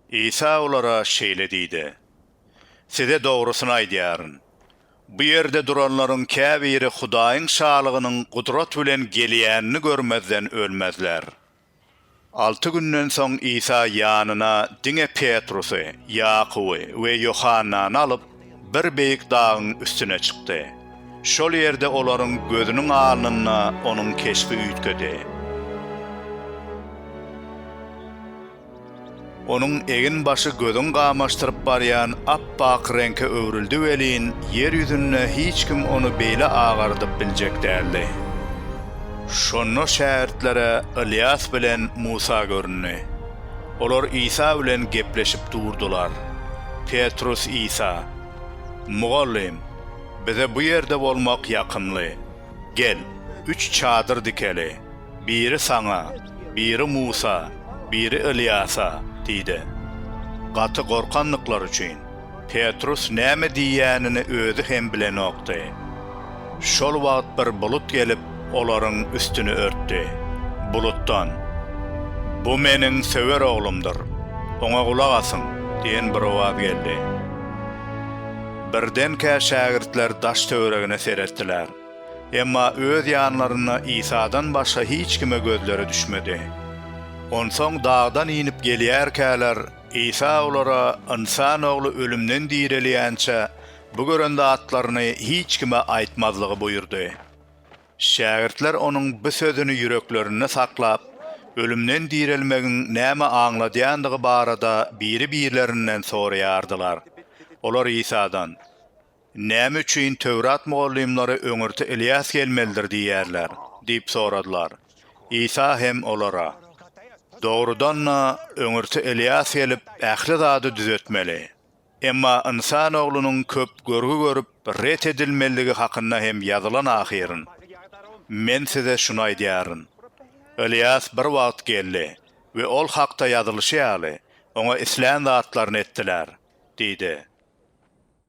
Isa olara şeýle diýdi, Size dogrusyny aýdýaryn, bu ýerde duranlaryň käbiri Hudaýyň Şalygynyň gudrat bilen gelýänini görmezden ölmezler. Alty günden soň Isa ýanyna diňe Petrusy, Ýakuby we Ýohannany alyp, bir beýik dagyň üstüne çykdy. Şol ýerde olaryň gözüniň alnynda onuň keşbi üýtgedi. Onuň egin-başy gözüň gamaşdyryp barýan ap-ak reňke öwrüldi welin, ýer ýüzünde hiç kim ony beýle agardyp biljek däldi. Şonda şägirtlere Ylýas bilen Musa göründi. Olar Isa bilen gepleşip durdular. Petrus Isa, Mugallym, bize bu ýerde bolmak ýakymly. Gel, üç çadyr dikeli, biri saňa, biri Musa, biri Ylýasa diýdi. Gaty gorkandyklary üçin, Petrus näme diýýänini özi hem bilenokdy. Şol wagt bir bulut gelip, olaryň üstüni örtdi. Bulutdan, Bu Meniň söwer Oglumdyr, Oňa gulak asyň! diýen bir owaz geldi. Birdenkä şägirtler daş-töweregine seretdiler. Emma öz ýanlarynda Isadan başga hiç kime gözleri düşmedi. Onsoň dagdan inip gelýärkäler, Isa olara, Ynsan Ogly ölümden direlýänçä, bu gören zatlaryny hiç kime aýtmazlygy buýurdy. Şägirtler onuň bu sözüni ýüreklerinde saklap, ölümden direlmegiň näme aňladýandygy barada biri-birlerinden soraýardylar. Olar Isadan. Näme üçin Töwrat mugallymlary öňürti Ylýas gelmelidir diýýärler? diýip soradylar. Isa hem olara, Dogrudan-da, öňürti Ylýas gelip, ähli zady düzetmeli. Emma Ynsan Oglunyň köp görgi görüp, ret edilmelidigi hakynda hem ýazylan ahyryn. Men size şuny aýdýaryn. Ylýas bir wagt geldi we ol hakda ýazylyşy ýaly, oňa islän zatlaryny etdiler diýdi.